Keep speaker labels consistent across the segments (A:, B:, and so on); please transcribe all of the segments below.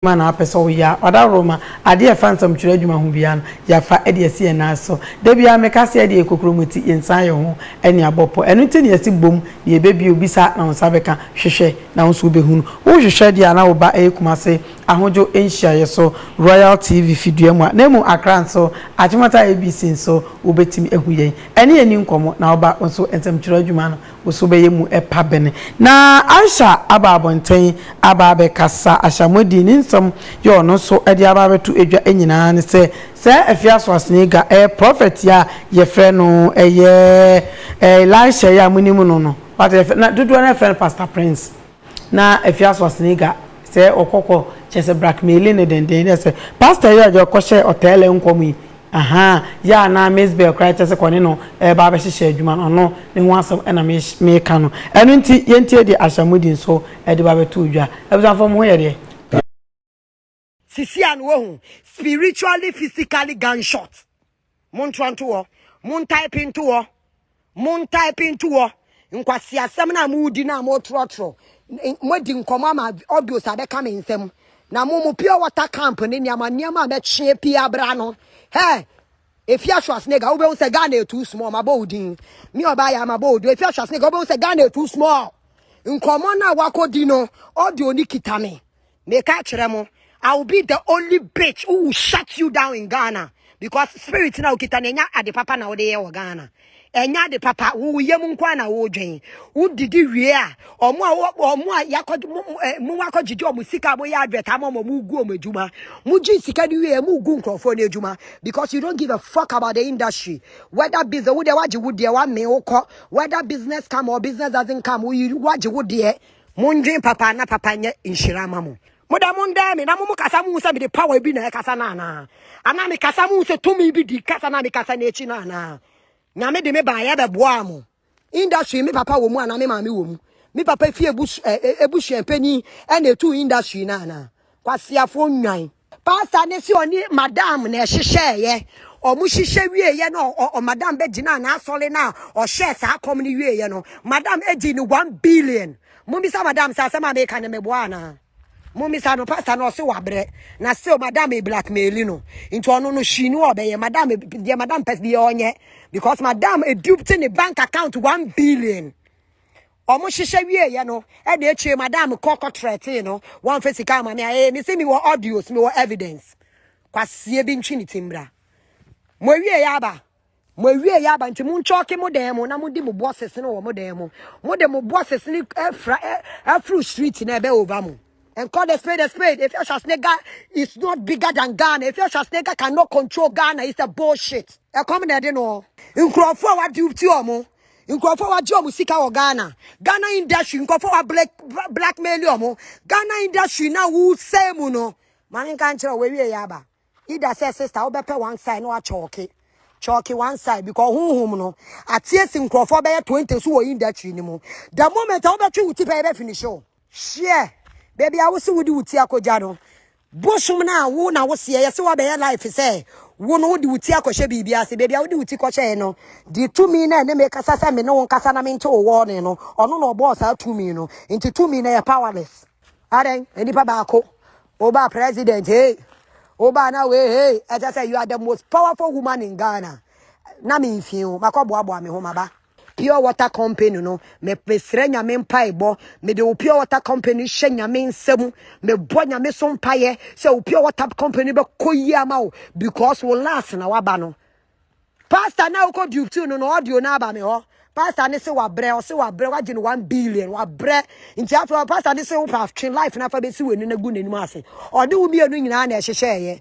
A: adwuma na wapɛ sɛ ɔyɛ a, ɔdaworo ma adeɛ a ɛfa nsɛmtwerɛ adwuma ho biara no, yɛafa de asi yɛn nan so. Da biara meka sɛ, yɛdeɛ yɛ kokuromoti, yɛnsan yɛn ho ani abɔ pɔ. Ɛno nti na yɛse bom na yɛbɛbie o, bisa na wo nsa bɛka, hwehwɛ na wo nso wobɛhunu. Wohwehwɛ deɛ a na wo ba ɛyɛ Kumase ahodwo nhyiaeɛ so, Royal TV fi Duamua, na mmom Accra nso, Achimota ABC nso wobɛtumi ahu yɛn. Ɛne yɛn ni nkɔmmɔ na wo ba nso nsɛmtwerɛ adwuma no Wo nso wobɛyɛ mu pa bɛn? Na Aisha aba abɔnten aba abɛkasa. Ashamuadi ne nsɛm yɛ ɔno nso de aba abɛto dwa nyinaa ne sɛ, saa afie asoase yi ga ɛyɛ prɔfɛt yi a yɛfrɛ no ɛyɛ Elisha yi a monim no no, wate, yɛfrɛ, na dodoɔ no ara frɛ no Pastor Prince. Na Afia Swasniga sɛ ɔkɔkɔ kyerɛ sɛ brackmailing no denden dɛ sɛ pastor yi a ɔdze ɔkɔhyɛɛ ɔtɛɛlɛ nkɔm yi ahaa yɛ a na Miss Bell koraa kyerɛ sɛ kɔ ne no reba abɛhyehyɛ adwuma no ɔno ne ho asɛm na meka no ɛno nti yɛntie deɛ Ashamudin nso de ba bɛtoo dwa. Abusuafoɔ mo ho yɛ deɛ?
B: Sisi a no wahu spiritually physically gunshot. Montoa nto hɔ. Montaepe nto hɔ. Montaepe nto hɔ. Nkwaseasɛm no a modi no a motrɔtrɔ. Moadi nkɔmmɔ ama audios a bɛka me nsɛm. Na mo mo pure water camp ne nneɛma nneɛma a mɛkyeɛ pii abra no. Hɛ! Efia Schwarzenegger, wobɛhu sɛ Ghana yɛ too small. Mabɔ wo din. Me ɔbaa yɛ mabɔ wo din. Efia Schwarzenegger, wobɛhu sɛ Ghana yɛ too small. Nkɔmmɔ no a wakɔdi no, audio no kita me. Meka kyerɛ mo, I will be the only bitch who will shut you down in Ghana because spirit na okita na enya ade papa na wode yɛ wɔ Ghana. Enya ade papa, wo wo yam nko na wo dwen. Wo didi wie a, omo a omo a yakɔ mo wakɔ gyegye omo sika mo yɛ advert ama omo mo gu omo adwuma. Mo gye sika ni wie mo gu nkrɔfo ne adwuma because you don't give a fuck about the industry. Whether business wo de wagye wo deɛ wa me wo kɔ. Whether business come or business doesn't come, wo wagye wo deɛ. Mundwen papa na papa nyɛ nhyira ma mo. Mo dɛ mondɛɛ me na mo mo kasa muhu sɛ mede power bi na ɛkasa no anaa? Anaa me kasa muhu sɛ tumi bi di kasa na me kasa no akyi no anaa? Nyame de me baayɛ bɛboaa mo. Industry me papa wɔ mu anaa me maame wɔ mu? Me papa fie ebusuapanyin ɛna etu industry no anaa? Kwasiafoɔ nnwan. Pastor ne se ɔne madam na ɛhyehyɛɛyɛ. Ɔmo hyehyɛ wieeɛ no ɔ- ɔ- madam bɛgyinaa n'asɔre no a ɔhyɛɛ saa kɔm no wieeɛ no. Madam gye no one billion. Mommisa madam sɛ asɛm a meka no meboa anaa? Mommisa no pastor no ɔse wabrɛ na still madam e blackmaili no. Nti ɔno no hwii no a ɔbɛyɛ madam e- deɛ madam pɛ biara ɔnyɛ because madam e duped ne bank account one billion. Ɔmo hyehyɛ wie yɛ no ɛna akyire madam kɔ kɔ trɛtee no wɔn fɛ sika ama me a ee mese mi wɔ audios mi wɔ evidence kwasie bi ntwi ne ti mbra mo awie yɛ aba mo awie yɛ aba nti mo nkyɔɔke mo dan mo na mo di mo boɔ sese no wɔ mo dan mo mo de mo boɔ sese no afra afro street na ɛbɛ over mo and call the spade a spade if your Schwarzenegger is not bigger than Ghana if your Schwarzenegger cannot control Ghana it's a bullshit ɛkɔm na ɛde no nkurɔfoɔ a wadi ti ɔmo. Nkurɔfoɔ wagye wɔn sika wɔ Ghana. Ghana industry nkurɔfoɔ wa black blackmail wɔn. Ghana industry na wo sɛ mu no. Maame nka nkyerɛ wo ewie yɛ aba. Ida sɛ sister wo bɛpɛ one side no achɔke. Chɔke one side because honhom no atie si nkurɔfoɔ bɛyɛ 20 so wɔ industry no mu. The moment a wobɛtwe wo ti pɛ yɛbɛ finish o. Share. Baabi a wo se wode wo ti akɔgya no. Bosom no a wo na wo seɛ yɛse wabɛyɛ life sɛ wo no wode wo ti akɔhyɛ biribi ase baabi a wode wo ti kɔhyɛe no de tumi na ɛne me kasa sɛ me ne wo nkasa na mente wo wɔne no ɔno na ɔbɔɔ saa tumi no nti tumi na yɛ powerless adɛn nipa baako oba president hey oba na we hey ɛkyɛ sɛ you are the most powerful woman in Ghana na me mfie o makɔboaboa me ho maba Pure water company no me mesrɛ nyame mpaebɔ mede wo pure water company hyɛ nyame nsa mu mebɔ nyame so mpaeɛ sɛ wo pure water company bɛkɔ yie ama wo because wo last na waba no pastor na wokɔ duty no na audio no aba me hɔ pastor ne se wabrɛ ɔse wabrɛ wagye no 1 billion wabrɛ nti afei pastor ne se wopɛ atwe life no afa bɛsi w'ani no agu n'anim ase ɔne wo mmienu nyinaa na ɛhyehyɛeɛ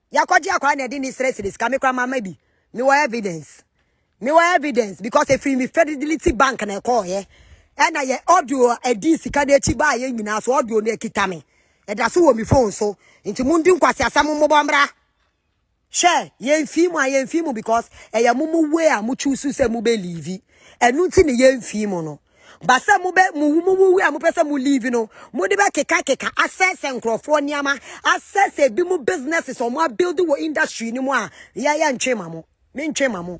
B: Yɛakɔgye akwadaa na ɛde ne srɛ srɛ sika me koraa mama bi. Mewɔ evidence. Mewɔ evidence because ɛfiri me Fidelity Bank na ɛkɔɔyɛ. Ɛna yɛ audio a ɛdii sika no akyi baa yɛ nyinaa so audio no akita me. Ɛda so wɔ me phone so. Nti mondi nkwaseasɛm mmobɔ mmra. Hwɛ, yɛmfii mu a yɛmfii mu because ɛyɛ mo mo way a mo choose sɛ mobɛliivi. Ɛno nti na yɛmfii mu no. Ba sɛ mo bɛ mo mo wuwu a mo pɛ sɛ mo leave no, mo de bɛ keka keka asɛsɛ nkurɔfoɔ nneɛma, asɛsɛ ebi mo businesses a wɔn abuild wɔ industry no mu a, yɛ yɛ ntwe ma mo, me ntwe ma mo.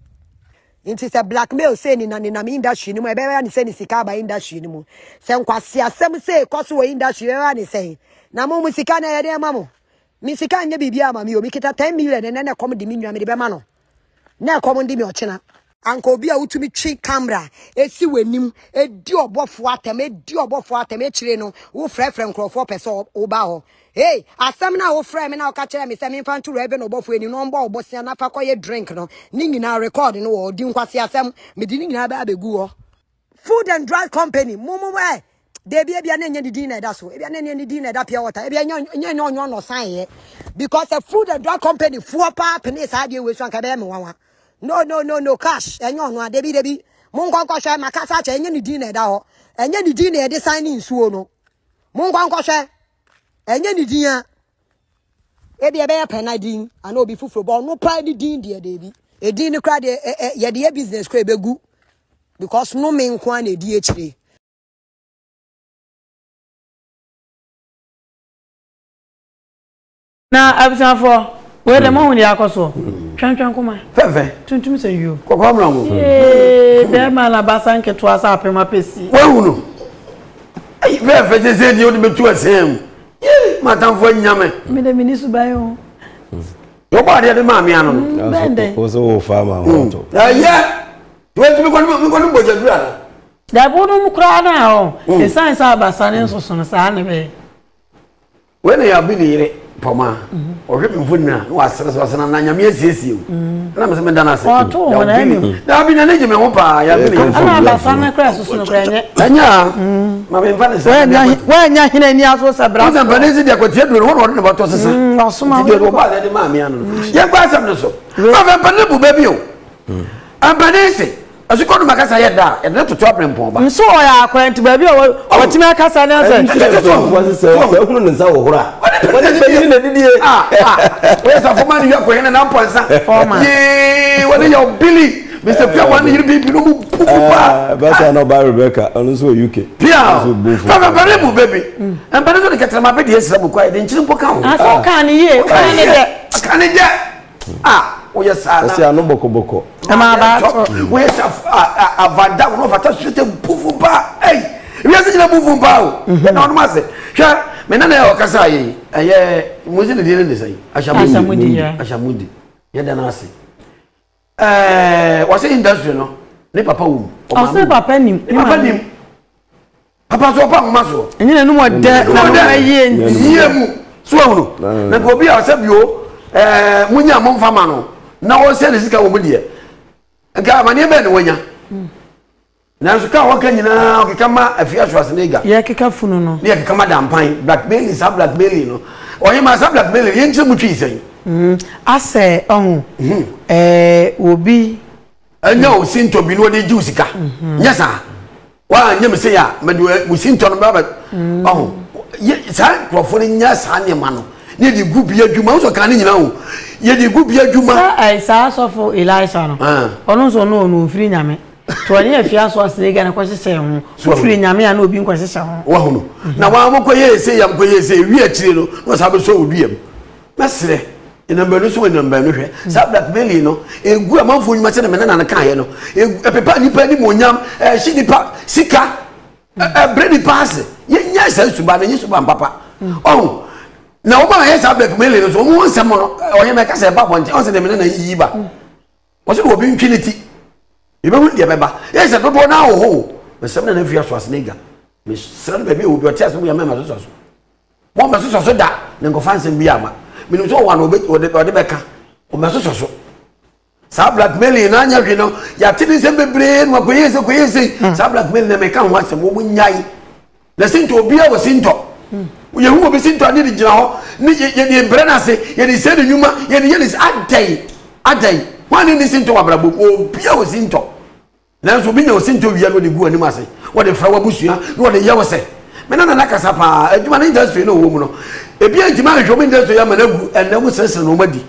B: Nti sɛ blackmail sɛ ni na nenam industry no mu, ɛbɛyɛ ne sɛ ne sika aba industry no mu. Sɛ nkwasi asɛm sɛ kɔ so wɔ industry, ɛbɛyɛ ne sɛ na mo mo sika na yɛde ma mo. Me sika nyɛ biribi ama me o, me kita 10 million ɛnɛ na ɛkɔm de me nwa me de bɛma no. na ɛkɔm de me ɔkyena. Anka obi a wotumi twe camera esi w'anim edi ɔbɔfo atɛm edi ɔbɔfo atɛm akyire no wofrɛfrɛ nkurɔfoɔ pɛ sɛ woba hɔ. Hey, asɛm no a wofrɛ me na woka kyerɛ me sɛ memfa nto Reverend ɔbɔfo anim na ɔmbɔ wo bosea na fa kɔyɛ drink no ne nyinaa record no wɔ hɔ. Di nkwaseasɛm. Mede ne nyinaa bɛba abɛgu hɔ. food and drug company mo mo ɛ deebi ebia na enye ne din na ɛda so ebia na enye ne din na ɛda pure water ebia enye enye enye ɔnyɔ no san yɛ because the food and drug company foɔ paa pene saa adeɛ wei so anka ɛbɛyɛ me nwanwa no no no no cash enye ɔno a deebi deebi mo nkɔ nkɔhwɛ makasa akyɛ enye ne din na ɛda hɔ enye ne din na yɛde san ne nsuo no mo nkɔ nkɔhwɛ enye ne din a Ebi ɛbɛyɛ pɛ na din ana obi foforo bɔ ɔno paa ne din deɛ deebi. Edin no kora deɛ ɛ ɛ yɛde yɛ business kora ebegu because no me nko ara na edi akyire.
A: Na abusuafoɔ wei dɛ mo ahu deɛ akɔ soɔ twɛntwɛn koma fɛfɛ tuntum sɛ
C: yuo
A: kɔkɔ amuna ho
C: ee bɛrima
A: na baasa nketewa sɛ apem apɛsi wahu no
C: ayi fɛfɛ sɛ sɛ deɛ wode bɛtu asɛn mu Yee m'atamfo anya me. Me de me ni so ban
A: o. Yɛ
C: ɔbɔ adeɛ de maa mmea no. Mm, bɛn dɛ. O so wo
A: fa ma
D: ho to. Ɛyɛ.
C: Wei ti mi kɔni mi kɔni bɔ jadura no. Dabi wo nom
A: koraa na ɔ. Esan sɛ abasa ne nsoso no saa ne bɛyɛ.
C: Wei na yabi ne yere pɔmaa. ɔhwɛ mi mfoni na na wasere so asena na nyame asiesie o na mese meda no ase ɔto wɔn
A: anim daabi na ne gye me ho
C: paa yɛme ne ɛna abasa no kora
A: susu no kora ɛnyɛ ɛnyɛ a
C: ma memfa ne sɛ woanya hena
A: ani aso sɛ bra sɛ mpane si deɛ kwatia
C: duro no wɔne ɔde ne bɔtɔ sesa ɔsoma deɛ wɔbaa
A: deɛ de maa mea no
C: no yɛnkɔ asɛm no so afɛ mpane bu baabi o mpane se Asukɔ no ma kasa yɛ da a, yɛde no toto aberempɔn ba. Nso ɔyɛ akwantu
A: baabi a wɔtumi akasa ne asɛ. Nti sɛ sɔfo ase sɛ ɔsɛ
D: hunu ne nsa wɔ horo a. Wɔde bɛyi na didie. Wɔyɛ
C: sɔfo ma ne yɛ kɔyɛ ne nampɔ nsa. Yee wɔde yɛ ɔbili. Mr. Pia wɔn ne yiri bi bi no mu bu fu paa. Bɛsa na ɔba Rebecca
D: ɔno nso wɔ UK. Pia
C: fɛfɛfɛre mu bɛbi. Mpɛrɛ nso de kɛtɛrɛma bɛ deɛ sira mu kɔ a yɛde nkyiri mpo ka ho. Asɛ ɔka ne yie. Ɔka
A: ne yɛ. Ɔka ne yɛ. Ah, woyɛ
C: saa na. Ɔsi ano bɔkɔbɔkɔ.
D: Ɛma aba atɔ.
A: Woyɛ sa
C: avada wɔn ɔfata sute bufu ba ɛyi wiase nyina bufu ba o. Yɛ na ɔnom ase hwɛ mɛ nana yɛ ɔkasa yɛ yi ɛyɛ musi ne di ne nisa yi ahyamudi ahyamudi yɛ dɛ n'ase ɛɛ wɔsi industry no ne papa wɔ mu. Ɔsi papa nim
A: ne papa nim. papa
C: so ɔpa nwoma so. ɛnyɛ na ɛnum ɔdɛ
A: na ɛnum ɛyie nti. yie mu
C: so wɔn no na nka obi a ɔsɛ bio ɛɛ mo nya mo nfa ma no na wɔsɛ ne sika wɔn mu deɛ nka amaneɛ bɛn na wɔnya hmm. nanso kaa wɔka nyinaa ɔkeka ma afia so ase n'ega. yɛ keka funu no.
A: ne yɛ keka ma dampan
C: blackmailing saa blackmailing no ɔyɛ ma saa blackmailing yɛn nkyɛn mu twi sɛn. Hmm. asɛ
A: ɔho ɛɛ obi. ɛnyɛ
C: hmm. wo sintɔ bi na wɔde gye wo sika mhm. nyɛ saa woanyɛ me sei a mede wo sintɔ no bɛbɛ hmm. ɔho saa nkurɔfoɔ no nyɛ saa nneɛma no ne yɛde gu bi adwuma wosɔ ka ne nyina o yɛde gu bi adwuma saa sɔfo
A: elisa no ah. ɔno nso ɔno ɔno ɔmfiri nyame to ɔne afie aso asene gane kɔhyehyɛ ho wofiri nyame a na obi nkɔhyehyɛ ho wahono na waa
C: mokɔyɛ ɛsɛ yam kɔyɛ ɛsɛ ɛwi akyire no na ɔsa bɛsɔ wo duam Mɛsrɛ anyinam baanu so anyinam baanu hwɛ saa blackmailing no egu amanfoɔ nnwuma sɛ na mɛ nana no kan yɛ no ɛpepa nipa anim onyam ɛhye nipa sika ɛbrɛ nipa ase yɛ nyɛ saa suba no nyɛ suba mpapa ɔho na wɔn a yɛ saa blackmailing no so wɔn wɔn nsɛm no ɔyɛ mɛ kasa ɛba abɔnten ɔsɛ na mɛ nana yiyi ba wɔsɛ na obi ntwi ne ti ebi hu deɛ bɛba yɛ sɛ dodoɔ naa wɔ hɔ o mɛ sɛm na na fi aso ase ne ga mɛ srɛ no baabi a obi ɔte ase mo yɛ mɛ ma so so. Wɔmmɛsosɔ so da na nkɔfa nsɛm biara mma. Menim sɛ ɔwɔ a na ɔbɛ, ɔde, ɔde bɛka. Wɔmmɛsosɔ so. Saa blackmailing no anyɛ hwee no, yɛate ne nsɛm bebree na wakɔyɛ sei, kɔyɛ sei. Hmm. Saa blackmailing no meka ho asɛm, wɔn nnyae. Na sintɔ, obiara wɔ sintɔ. Hmm. Yɛhu obi sintɔ a ne de gyina hɔ, ne yɛde brɛ no ase, yɛde sɛ ne nnwuma, yɛde yɛ ne adɛn, adɛn. Wɔn a ne ne sintɔ wɔ abrabɔ mu, obiara wɔ sintɔ. Nanso obi nya osintɔ wia na ɔde gu w'anim ase, na ɔde fra w'abusua, na ɔde yɛ wo sɛ, Me ne Nana kasa paa, adwuma no industry no a ɔwɔ mu no, ebi antumi anhwehwɛ wɔn industry ama no agu, ɛnnɛ wo srɛsrɛ no wɔn adi.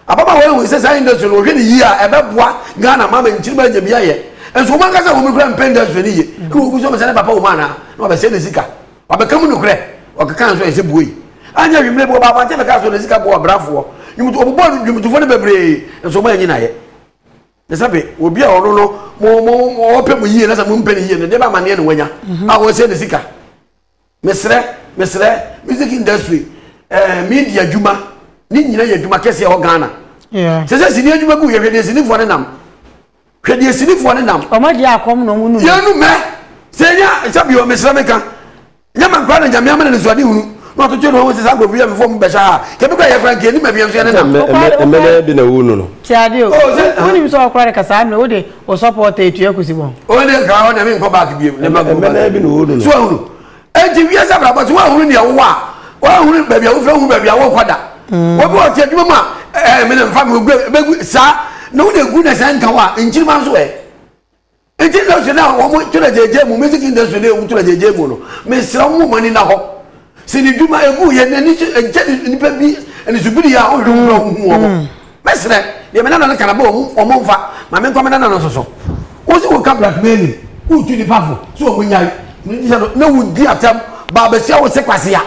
C: Ababaawa yi hui sɛ saa industry no wɔhwɛ no yie a ɛbɛboa Ghana ma ama nkyirimma anya bi ayɛ, nso wɔn ankasa wɔn kura mpɛ industry no yie, ɛna wɔgu so bisa ne papa wɔ mu anaa, na wabɛsɛe ne sika, wabɛka mu nokorɛ, ɔkeka nso ayɛ sɛ buei. Anyɛ hwee mmerɛ bi ɔbaa abɔnten bɛkaa sɛ ɔde ne sika boa ɔbrafoɔ, nnwomtofoɔ, ɔbobɔɔ nnwomtofoɔ no bebree, nso wɔn anyi no ayɛ. Ne sɛ be obi a ɔno no mo mo mo ɔpɛ mo yie na sɛ mo mpɛ ne yie no deɛ bɛ amaneɛ na wanya a ɔsɛ ne sika mesrɛ mesrɛ music industry ɛɛ eh, media adwuma ne nyina yɛ adwuma kɛseɛ ɛwɔ Ghana sɛ sɛ sini adwuma gu yɛ hwɛ deɛ sinifoɔ ne nam hwɛ deɛ sinifoɔ ne nam ɔmɔ deɛ akɔm na
A: ɔmo
C: num
A: yɛnum mɛ
C: sɛ nya sɛ bio mesrɛ meka Nnyɛ ma nkora na Nyame ama no anisoadehunu na ɔtotoo ne ho ho se saa nkurɔfo yi yɛ me fɔm bɛhyɛ ha a, kɛbi koraa yɛ koraa nka yɛnni mabea nso yɛne nam. Ɔmɛ na ɛde na wunu
D: no. Te ade o.
A: Wonim sɛ ɔkora de ka saa mmerɛ wode wo sɔpɔɔta etua kusi bɔn. Ɔwɔ deɛ nka ɔne me
C: nkɔ back biom. Ne mma nkɔ back biom. So wahunu? Enti wiase abrabɔ so woanhunu deɛ wowɔ a, woanhunu baabi a wofiri woanhunu baabi a worekɔ da. Obi wɔ te adwuma mu a ɛɛ me na mfa me ogu bɛgu saa na wode gu ne sɛ nka wo a nkyirima nso ɛ. Ntsi industry no a wɔn twerɛ gyegye mu, music industry no a wɔn twerɛ gyegye mu no, mesrɛ mo mo ani na hɔ. Sɛ ne dwuma egu yɛ na ni so ɛnkyɛ ni nipa bi ɛni so biri a ɔhwɛ mu na ɔho hu wɔn. Mɛsrɛ deɛ me nana no ka na bɛ wɔn wɔn nfa ma me nkɔ me nana no nso so. Wo se wo ka blackmailing, wo tu nipa fo, so wɔn nyae, na wo di atɛm ba abɛsia wo se kwasea.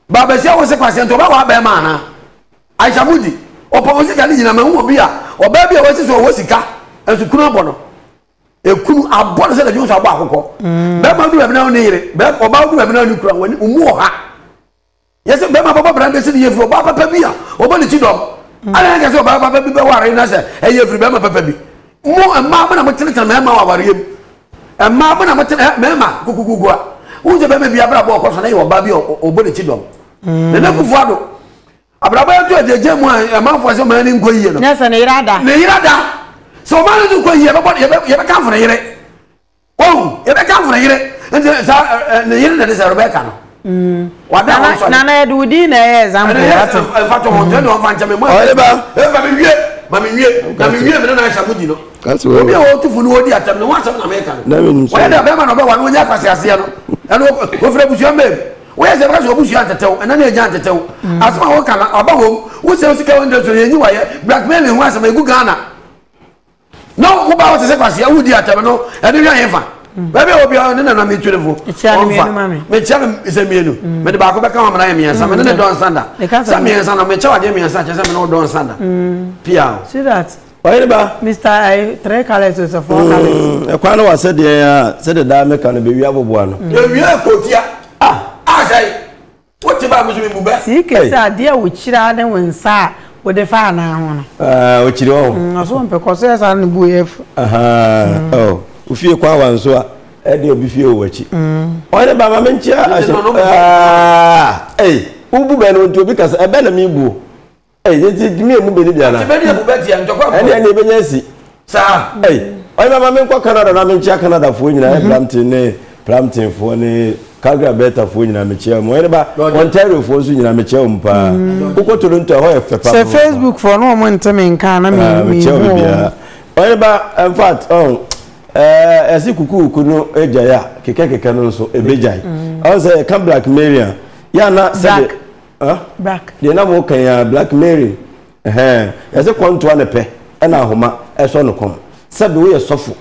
C: Ba basia wo se kwasia nti ɔbɛwaa bɛɛma anaa Aisha mudi ɔpɔ wo sika ne nyina mahu obi a ɔbaa bi a wasi so ɔwɔ sika nso kunu abɔ no ekunu abɔ no sɛ na dwonso abɔ akokɔ mm. bɛɛma du baabi na ɔne yere bɛɛ ɔbaa du baabi na ɔne kura wɔn mu wɔ ha yɛsɛ bɛɛma bɔbɔ bran bɛsi ne yɛ firi ɔbaa papa bi a ɔbɔ ne ti dɔm mm. ana yɛn kɛse ɔbaa papa bi bɛware na sɛ ɛyɛ firi bɛɛma papa bi mo mmaa mo na mo tenetene mɛɛma wɔ awareɛ mu Mmaa mo na mo tena mmarima kukukuku a wohu sɛ bɛrima bi abrabɔ ɔkɔ so na yɛ ɔbaa bi a ɔbɔ n'akyi dɔm. Nana Akufo Addo, abrabɔ yɛ to agyagya mu a amanfoɔ sɛ ɔman no nkɔ yie no. Nyɛ sɛ ne yere ada. Ne yere
A: ada. Sɛ
C: ɔman no nso kɔ yie a yɛbɛkamfo ne yere. Wahu? Yɛbɛkamfo ne yere. Nti saa ne yere na ɛde sɛ Rebecca no. Wada wɔn fa. Nana yɛde wo din na ɛyɛ
A: example wate. Ɛfa to ho
C: tɛni wɔn fa nkyɛn mi mu. Ɔyɛ ba. Ɛfa mi
D: wie ma mi
C: wie na mi wie mi ne na ahyɛ agodi no. Kasi wɔ. Obi a wɔn tufu
D: no odi
C: atɛm no wɔn asɛm na mi ka no. Na mi nim sɛ. Wɔyɛ dɛ bɛrima na ɔbɛ wa no wɔnyɛ akwasi aseɛ no ɛna ofiri abusua mbɛ mu. Wɔyɛ sɛ bɛkasi obusua ntetew ɛna ne egya ntetew. Asɛm a wɔka na ɔba wɔm wosɛ osika wɔn dɛsɛ yɛ nyi wɔyɛ blackmailing ho asɛm egu Ghana. na wo ba wote sɛ kwasea wodi atɛm no ɛno hwɛ hefa baabi a wɔ biara ne nana metwerefo ɔmfa mekyia no sɛ mmienu mm. mede baako bɛka ho mena yɛ mmiɛnsa mene ne mm. dɔnsa da sɛ mmiɛnsa no mekyɛ wadeɛ mmiɛnsa kyɛ sɛ mene wo dɔnsa da mm. pia o
A: ɔyere ba mr
D: eh,
A: three colors is a four colors ɛkwan no wa sɛdeɛ
D: a sɛdeɛ daa meka no bɛwia boboa no ɛwia kɔtia
C: ah asɛe ah, Wote baa me so me bu bɛ. Sii kɛse adeɛ a
A: wokyiri ara ne wo nsa a wode fa anaa ho no. Aah okyiri hɔ o. Mm
D: ɔso ɔmpɛ kɔ so yɛ
A: saa ne bo yɛ afu. Ahaa
D: oh wo fie kɔ awa nso a ɛde obi fie o wakyi. Mm. Ɔhene ba ma me nkyea ahyɛ aah ei wo bu bɛ no nti obi kasa ɛbɛ na me bu o. Ɛyɛ nti gyimi emu bɛ ni biara. Ɔtí bɛ ni emu bɛ ti yɛ ntɔkwa
C: mpɔ. Ɛni ɛni ebe nyɛ si.
D: Saa. Ɛyi ɔyɛ mama mi nkɔ Canada na mi nkyia Canada foɔ nyina ɛyɛ Brampton ne Brampton foɔ ne Calgary Alberta foɔ nyina mi kyia ɔmu ɔyɛ ba Ontario foɔ nso nyina mi kyia ɔmu paa. Wokɔ Toronto ɛhɔ yɛ fɛ paa. Sɛ Facebook foɔ no
A: ɔmu nti mi nka na mi mi hu. Mi kyia ɔmu biara.
D: Ɔyɛ ba in fact ɔn ɛɛ ɛsi kukuuku no egya yɛ a kekɛ kekɛ no nso ebe gya yi. Ɔn sɛ yɛ ka Black Marian yɛ ana sɛ de. black
A: deɛ na mo kan ya
D: black mary ɛhɛn yɛsɛ kɔntoa ne pɛ ɛna ahoma ɛsɔ no kɔn sɛbi woyɛ sɔfo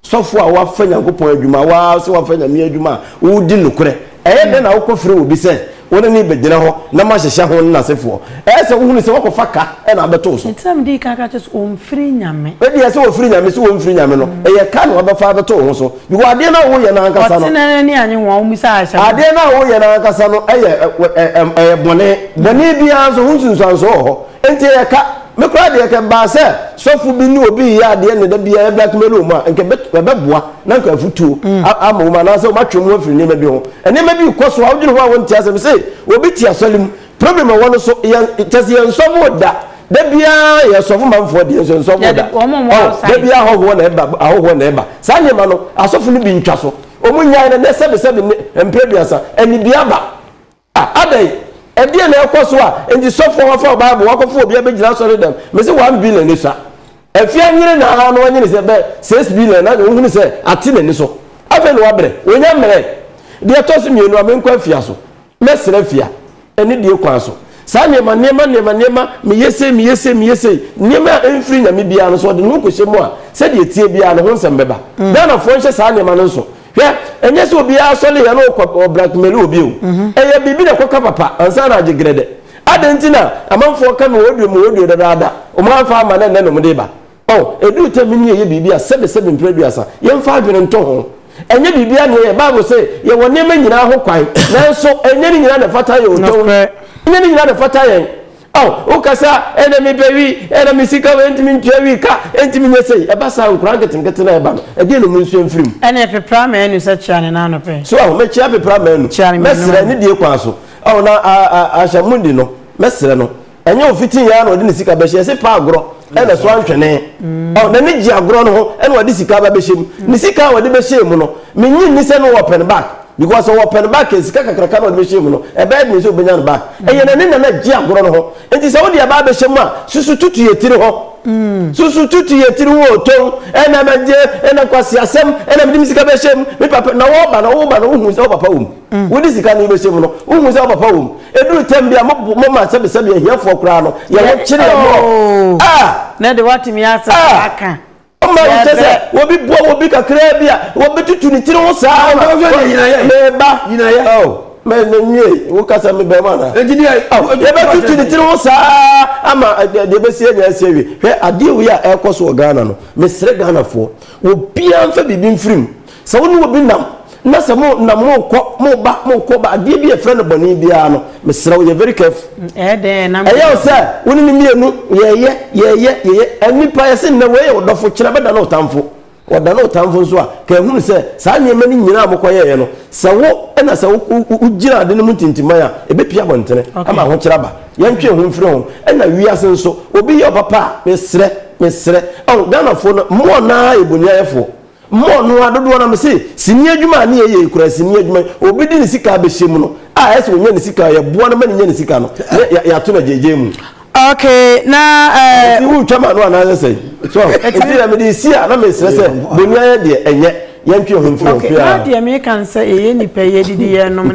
D: sɔfo a wafa nyankopɔn adwuma waa sɛ wafa nyame adwuma a wodi nokorɛ ɛyɛ dɛn na wokɔ frɛ obi sɛ wo ne ne bɛgyina hɔ na mahyehyɛ ho ne n'asefoɔ ɛyɛ sɛ wohunu sɛ wakɔfa ka ɛna abɛto so ɛti na mede ka ka kyɛ sɛ
A: ɔmfiri nyame ɛdeɛ sɛ wɔfiri nyame
D: sɛ wɔmfiri nyame no ɛyɛ ka na wabɛfa abɛto ho so Because adeɛ no a woyɛ no ankasa no. Ɔtena n'ani anye ho a wommisa
A: Aisha ho. Adeɛ no a woyɛ no
D: ankasa no yɛ ɛyɛ bɔne. Bɔne biara nso ho nsunsuansoɔ wɔ hɔ. Enti ɛyɛ ka. Me koraa deɛ kɛ ɛbaa sɛ sɔfo bi ne obi reyɛ adeɛ na da biara blackmail wɔn a, nka ɛbɛboa na nka afutuo ama wɔn anaasɛ wɔatwe wɔn afiri nneɛma bi ho. Nneɛma bi rekɔ so a wodwene ho a wonte aseɛ. Mese obi te asɔre mu. Problem ɛwɔ no so yɛn kyɛsɛ yɛn nsɔfo da da biara yɛ sɔfo manfoɔ deɛ nso nsɔfo da ɔ da biara ahɔhoɔ na ɛba ahɔhoɔ na ɛba saa nneɛma no asɔfo no bi ntwa so wɔn nyae no nɛ sɛbi sɛbi ne mpere duasa anibia ba a adɛn ɛdeɛ na ɛkɔ so a nti sɔfo wafa bible wakɔfo obi abɛgyina asɔre dɛm mese one billion ne sa afie anyere na ara no anyere sɛ bɛ six billion na wɔhunu sɛ ate n'ani so afei na wabrɛ wɔnya mmerɛ deɛ ɛtɔ so mmienu a menkɔ afia so Mɛsrɛ afia, ɛne deɛ kwan so. Saa nneɛma, nneɛma, nneɛma, nneɛma, meyɛ sei, meyɛ sei, meyɛ sei, nneɛma a ɛmfiri Nyame biara no, sɛ ɔde ne ho kɔhyɛ mu a, sɛdeɛ ɛteɛ biara no, ho nsɛm bɛba. Ghanafoɔ nhyɛ saa nneɛma no nso. Hwɛ, ɛnyɛ sɛ obiara sɔreeɛ na ɔkɔ blackmail obi o. Ɛyɛ biribi na ɛkɔka papa ansa na agye grɛdɛ. Adɛn nti na amanfoɔ ka me audio, me audio dadaada, wɔn amfa amma na ɛnnɛ na wɔde reba? Oh, eduu tɛm bi no yɛyɛ biribi a sɛbe sɛbe mpere aduasa. Yɛmfa adwene ntɔ ho. Ɛnyɛ biribiara na yɛyɛ. Bible se yɛwɔ nneɛma nyinaa ho kwan, nanso ɛnyɛ ne nyinaa na ɛfata yɛn otwa mu. Ɛnyɛ ne nyinaa na ɛfata yɛn. Oh, woka sɛ, Ah, na mepɛ wii, eh, na me sika wɔ he, enti mentua wii ka, enti menyɛ sei. Ɛba saa a, nkwadaa nketenkete no a ɛba no, ɛdeɛn na wɔnsua mfiri mu? Ɛnneɛ pepra m'anu
A: sɛ kyea ne nan ano pɛ. So ahu? Mekyea pepra
D: m'anu. Kyea ne mmienu ano. Mɛsrɛ ne die kwan so. Oh, na a, a, Asha Mundi no, mɛsrɛ no. ɛnyɛ ofiti nyɛ na ɔde ne sika bɛhyɛ ɛsɛ pa agorɔ ɛna so antwene ɔ n'ani gye agorɔ no ho ɛna ɔde sika ba bɛhyɛ mu ne sika a ɔde bɛhyɛ mu no menyi nni sɛ no wɔ pɛn back because ɔwɔ pɛn back a sika kakraka na ɔde bɛhyɛ mu no ɛbɛyɛ dene sɛ ɔbɛnya no back ɛyɛ n'ani na na gye agorɔ no ho nti sɛ wode ɛbaa bɛhyɛ mu a susu tutu yɛ tiri ho Mm. susu tutu yɛ tiri wo tom ɛna mɛgye ɛna kwasi asɛm ɛna mede me sika bɛhyɛ mu me papa na wɔba na wɔba na wohu sɛ wo papa wɔ mu Wode sika no wobɛhyɛ mu no, wohu sɛ wo papa wɔ mu. Ɛduru tɛm bi a, moma sɛbesɛbe ahiafoɔ koraa no, yɛwo kyere yɛ mmoɔ. Oh! Ah! Na de
A: woatumi asɛ ah! aka. Ɔma wo kyɛ
D: sɛ, obi boa obi kakraa bi a, wɔbɛtutu ne tiri ho saa. Ah, meba. Nyinayɛ. Oh! Mɛ na nwie, wo kasa me bɛrima na. Engineer. Oh! Yɛbɛtutu ne tiri ho saa ama eh, deɛ ɛbɛsi anya asi awie. Hwɛ adeɛ wei a ɛrekɔ so wɔ Ghana no, mesrɛ Ghanafoɔ, obiara mfa biribi mfiri mu. Sɛ wo ne obi nam, na sɛ mo nam mo kɔ, mo ba, mo kɔ ba, adeɛ bi a yɛfrɛ no bɔne biara no, mesrɛ wo, yɛ very careful. Ɛyɛ dɛn a ɛnam. Ɛyɛ
A: wo sɛ, wo ne no
D: mmienu, yɛyɛ, yɛyɛ, yɛyɛ, nnipa, yɛse nnɛ wei yɛ wo dɔfo, kyena bɛda ne wo tamfo. Ɔda ne wo tamfo nso a, ka hunu sɛ, saa nneɛma no nyinaa a mo kɔyɛeɛ no, sɛ wo na sɛ wo, wo, wo gyina ade no mu ntintiman a, ɛbɛpue abɔntene ama ahokyerɛ aba. Yɛntwe ho mfiri ho. Ɛna wiase nso, obi yɛ wo papa a, mesrɛ, mesrɛ, ɔho, Ghanafoɔ no, mmoa no ara yɛ boniayɛfoɔ. Mmɔ no ara dodoɔ na mese sini adwuma a ne yɛ yɛ yi koraa sini adwuma yi obi de ne sika abɛhyɛ mu no a ɛsɛ ɔnya ne sika yɛ boa no ma ne nya ne sika no na yɛ ato no gyegye mu. Ok na
A: ɛɛ. Nti wo twa ma no
D: anaasɛ sɛ so nti na mede si a na mesrɛ sɛ boni ayɛ deɛ
A: ɛnyɛ
D: yɛntwe
A: ho mfiri ho fia. Ok na
D: deɛ
A: meka
D: ne
A: sɛ yɛyɛ nipa yɛ didi yɛ nom.